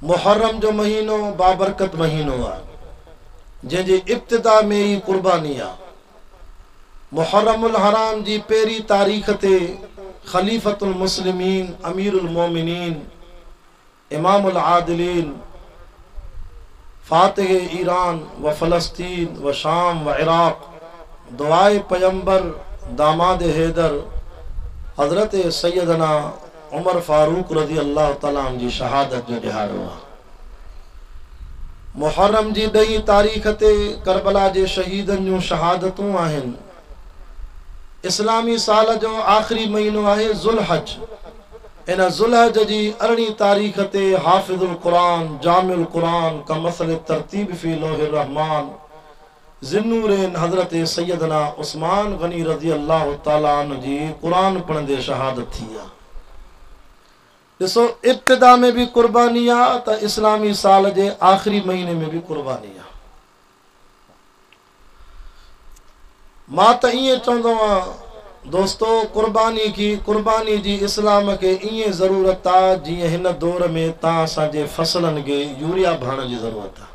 محرم جو مهينو بابرڪت مهينو آهي، جنهن جي ابتدا ۾ ئي قرباني آهي. محرم الحرام جي پهرين تاريخ تي خليفة المسلمين امير المومنين امام العادلين فاتح ايران و فلسطين و شام و عراق دعاء پيمبر داماد حيدر حضرت سيدنا عمر فاروق رضي الله تعالٰي عنه جي شهادت جو ڏهاڙو آهي. محرم جي ڏهين تاريخ تي ڪربلا جي شهيدن جون شهادتون آهن. اسلامي سال جو آخري مهينو آهي ذوالحج. ان ذوالحج جي ارڙهين تاريخ تي حافظ القرآن جامع القرآن ڪمثل الترتيب في لوح الرحمان ذوالنورين حضرت سيدنا عثمان غني رضي الله تعالٰي عنه جي قرآن پڙهندي شهادت ٿي آ. ڏسو ابتدا ۾ به قرباني آ ته اسلامي سال جي آخري مهيني ۾ به قرباني آ. مان ته ائين چوندو آ دوستو قرباني کي قرباني جي اسلام کي ائين ضرورت آ جيئن هن دور ۾ تان اسان جي فصلن کي يوريا ڀاڻ جي ضرورت آ.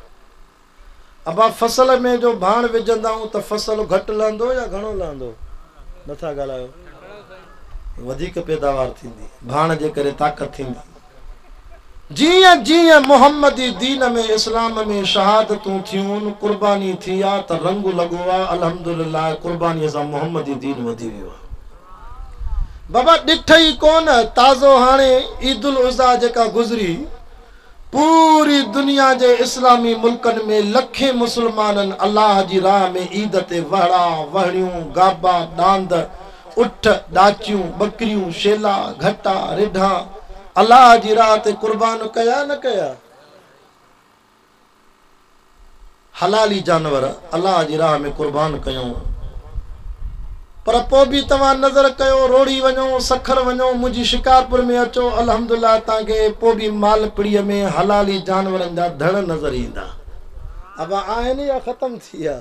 ابا فصل ۾ جو ڀاڻ وجهندائون ته فصل گهٽ لهندو يا گهڻو لهندو؟ نٿا ڳالهايو. وڌيڪ پيداوار ٿيندي. ڀاڻ جي ڪري طاقت ٿيندي. جيئن جيئن محمدي دين ۾ اسلام ۾ شهادتون ٿيون، قرباني ٿي آ ته رنگ لڳو آ، الحمدلله قرباني سان محمدي دين وڌي ويو آ. بابا ڏٺئي ڪونه تازو هاڻي عيد الاضحيٰ جيڪا گذري، پوري دنيا جي اسلامي ملڪن ۾ لکين مسلمانن الله جي راهه ۾ عيد تي وهڙا، وهڻيون، گابا، ڏاند، اٺ، ڏاچيون، ٻڪريون، شيلا، گهٽا، رڍا الله جي راهه تي قربان ڪيا نه ڪيا؟ حلالي جانور الله جي راهه ۾ قربان ڪيو، پر پوء به توهان نذر ڪيو روهڙي وڃو، سکر وڃو، منهنجي شڪارپور ۾ اچو، الحمدلله توهان کي پوء به مالپڙيء ۾ حلالي جانورن جا ڌڻ نظر ايندا. ابا آهن يا ختم ٿي ويا؟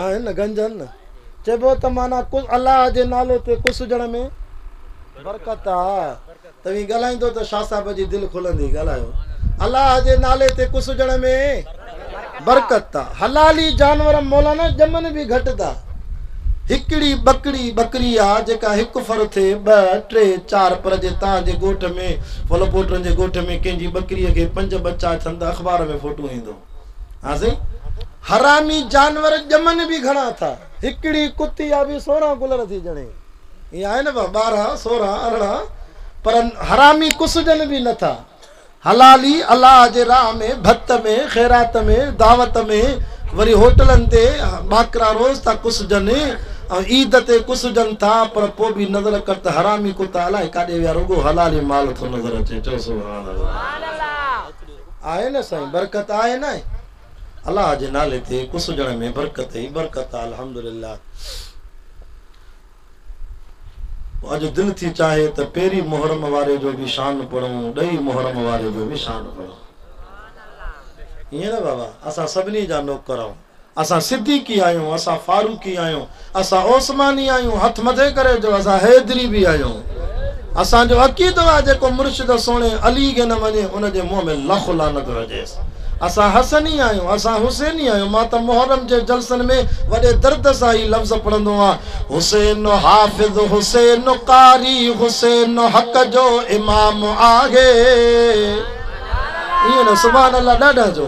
آهن گنجن چئبو ته معنيٰ الله جي نالي تي ڪسجڻ ۾ برڪت آ توهين ڳالهائيندو ته شاهه صاحب جي دل کلندي ڳالهايو الله جي نالي تي ڪسجڻ ۾ برڪت آ حلالي جانور مولانا ڄمن به گهٽ ٿا هڪڙي ٻڪڙي ٻڪري آ جيڪا هڪ فر ٿي ٻه ٽي چار پر جي تان جي ڳوٺ ۾ فلپوٽرن جي ڳوٺ ۾ ڪنهن جي ٻڪري کي پنج ٻچا ٿين ته اخبار ۾ فوٽو ايندو ها سائين حرامي جانور ڄمن به گهڻا ٿا هڪڙي ڪتي آ به سورهن گلر ٿي ڄڻي ائين آهي نه با ٻارهن سورهن ارڙهن پر حرامي ڪسجن به نه ٿا حلالي الله جي راهه ۾ ڀت ۾ خيرات ۾ دعوت ۾ وري هوٽلن تي ٻاڪرا روز ٿا ڪسجن ۽ عيد تي ڪسجن ٿا پر پوء به نظر ڪر ته حرامي ڪتا الائي ڪاڏي ويا رڳو حلالي مال ٿو نظر اچي چؤ سبحان الله آهي نه سائين برڪت آهي نه ۽ الله جي نالي تي ڪسجڻ ۾ برڪت ئي برڪت آ الحمدلله پوء اڄ دل ٿي چاهي ته پيري محرم واري جو به شان پڙهون ڏهي محرم واري جو به شان پڙهون ائين نه بابا اسان سڀني جا نوڪر آهون اسان صديقي آهيون، اسان فاروقي آهيون، اسان عثماني آهيون، هٿ مٿي ڪري چئو اسان حيدري به آهيون. اسان جو عقيدو آهي جيڪو مرشد سهڻي علي کي نه مڃي ان جي منهن ۾ لک لعنت هجيس. اسان حسني آهيون، اسان حسيني آهيون، مان ته محرم جي جلسن ۾ وڏي درد سان هي لفظ پڙهندو هئان، حسين حافظ حسين قاري حسين حق جو امام آهي. ائين نه سبحان الله ڏاڍا جو.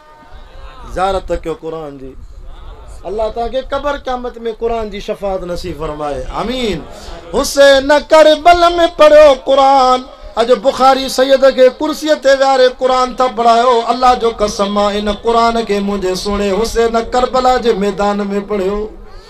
زيارت ڪيو قرآن جي الله توهان کي قبر قيامت ۾ قرآن جي شفاعت نصيب فرمائي آمين حسين کربل ۾ پڙهيو قرآن اڄ بخاري سيد کي ڪرسي تي ويهاري قرآن ٿا پڙهايو الله جو قسم مان ان قرآن کي منهنجي سهڻي حسين کربلا جي ميدان ۾ پڙهيو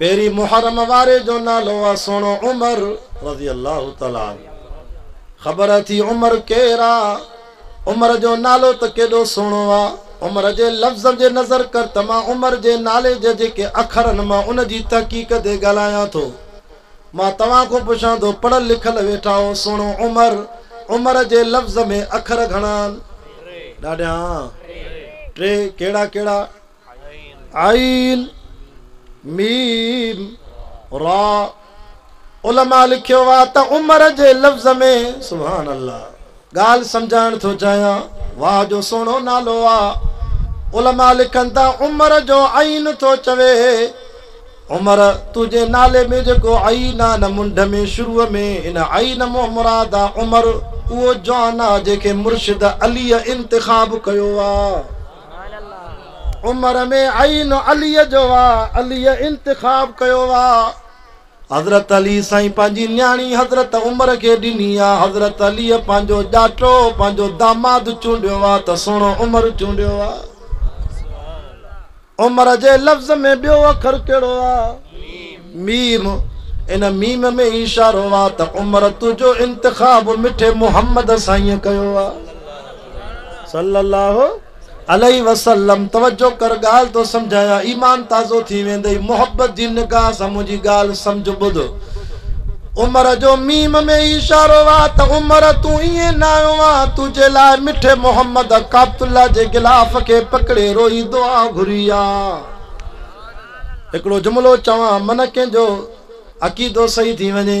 پهرين محرم واري جو نالو آ سهڻو عمر رضي الله تعالٰي عنه خبر اٿي عمر ڪير آ عمر جو نالو ته ڪيڏو سهڻو آ عمر جي لفظن جي نظر ڪر ته مان عمر جي نالي جي جيڪي اکرن مان ان جي تحقيق تي ڳالهايان ٿو مان توهان کون پڇان ٿو پڙهل لکل ويٺاهو سهڻو عمر عمر جي لفظ ۾ اکر گهڻا آن ڏاڍيان ٽي ڪهڙا ڪهڙا عين، ميم، راء، علماء لکيو آ ته عمر جي لفظ ۾ سبحان الله ڳالهه سمجهائڻ ٿو چاهيان واهه جو سهڻو نالو آ علماء لکن ٿا عمر جو عين ٿو چوي عمر تنهنجي نالي ۾ جيڪو عين آ نه منڍ ۾ شروع ۾ ان عين مون مراد آ عمر اهو جوان آ جنهن کي مرشد علي انتخاب ڪيو آ عمر ۾ عين عليء جو آ، عليء انتخاب ڪيو آ. حضرت علي سائين پنهنجي نياڻي حضرت عمر کي ڏني آ. حضرت عليء پنهنجو ڄاٽو، پنهنجو داماد چونڊيو آ ته سهڻو عمر چونڊيو آ. عمر جي لفظ ۾ ٻيو اکر ڪهڙو آ؟ ميم. ان ميم ۾ اشارو آ ته عمر تنهنجو انتخاب مٺي محمد سائينء ڪيو آ. صلّي الله عليه وسلّم توجه ڪر ڳالھ ٿو سمجهايان ايمان تازو ٿي ويندئي محبت جي نگاھ سان منهنجي ڳالھ سمجھ ٻڌ عمر جو ميم ۾ اشارو آ ته عمر تون ائين نه آيو آ تنهنجي لاء مٺي محمد ڪابت الله جي غلاف کي پڪڙي روئي دعا گهري آ هڪڙو جملو چوان من ڪنهن جو عقيدو صحيح ٿي وڃي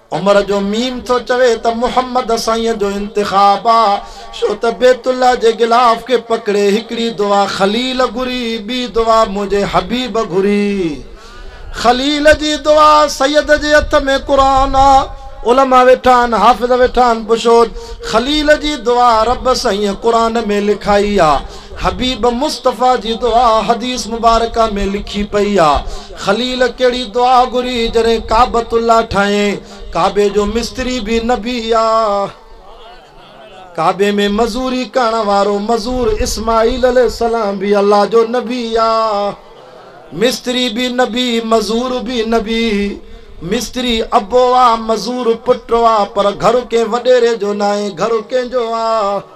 عمر جو ميم ٿو چوي ته محمد سائين جو انتخاب آ ڇو ته بيت الله جي غلاف کي پڪڙي هڪڙي دعا خليل گهري ٻي دعا منهنجي حبيب گهري خليل جي دعا سيد جي هٿ ۾ قرآن آ علماء ويٺا آهن حافظ ويٺا آهن پڇو خليل جي دعا رب سائين قرآن ۾ لکائي آ حبيب مصطفيٰ جي دعا حديث مبارڪه ۾ لکي پئي آ خليل ڪهڙي دعا گهري جڏهن ڪعبت الله ٺاهين ڪعبي جو مستري به نبي آ ڪعبي ۾ مزوري ڪرڻ وارو مزور اسماعيل عليه السلام به الله جو نبي آ مستري به نبي مزور به نبي مستري ابو آ مزور پٽ آ پر گهر ڪنهن وڏيري جو ناهي گهر ڪنهن جو آ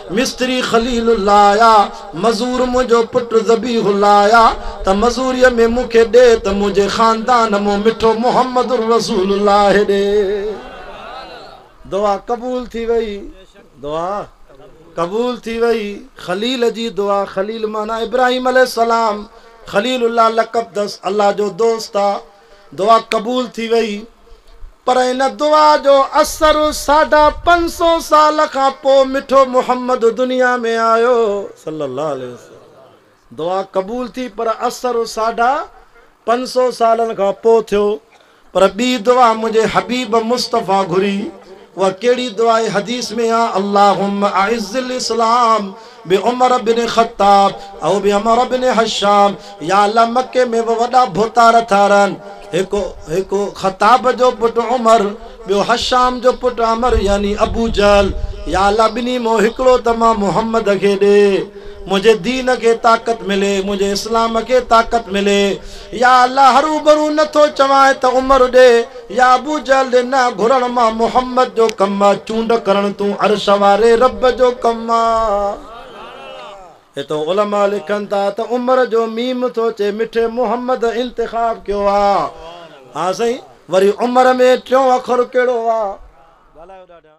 مستري خليل الله آيا، مزور منهنجو پٽ ذبيح الله آيا ته مزوريء ۾ مون کي ڏي ته منهنجي خاندان مون مٺو محمد الرسول الله ڏي. دعا قبول ٿي وئي، دعا قبول ٿي وئي، خليل جي دعا خليل معنيٰ ابراهيم عليه السلام، خليل الله لقب اٿس، الله جو دوست آ، دعا قبول ٿي وئي پر ان دعا جو اثر ساڍا پنج سو سال کان پوء مٺو محمد دنيا ۾ آيو صلّي اللّٰه عليه وسلّم دعا قبول ٿي پر اثر ساڍا پنج سو سالن کان پوء ٿيو پر ٻي دعا منهنجي حبيب مصطفيٰ گهري اها ڪهڙي دعا آهي حديث ۾ آهي اللهم اعز الاسلام بعمر بن خطاب او بعمر بن حشام يا الله مڪي ۾ به وڏا ڀوتار ٿا رهن هڪ هڪ خطاب جو پٽ عمر ٻيو حشام جو پٽ عمر يعني ابو جهل يا الله ٻنهي مان هڪڙو ته مان محمد کي ڏي منهنجي دين کي طاقت ملي منهنجي اسلام کي طاقت ملي يا الله هروبرو نٿو چوانء ته عمر ڏي يا ابو جهل ڏي نه گهرڻ مان محمد جو ڪم آ چونڊ ڪرڻ تون عرش واري رب جو ڪم آ هتو علماء لکن ٿا ته عمر جو ميم ٿو چئي مٺي محمد انتخاب ڪيو آ ها سائين وري عمر ۾ ٽيون اکر ڪهڙو آ.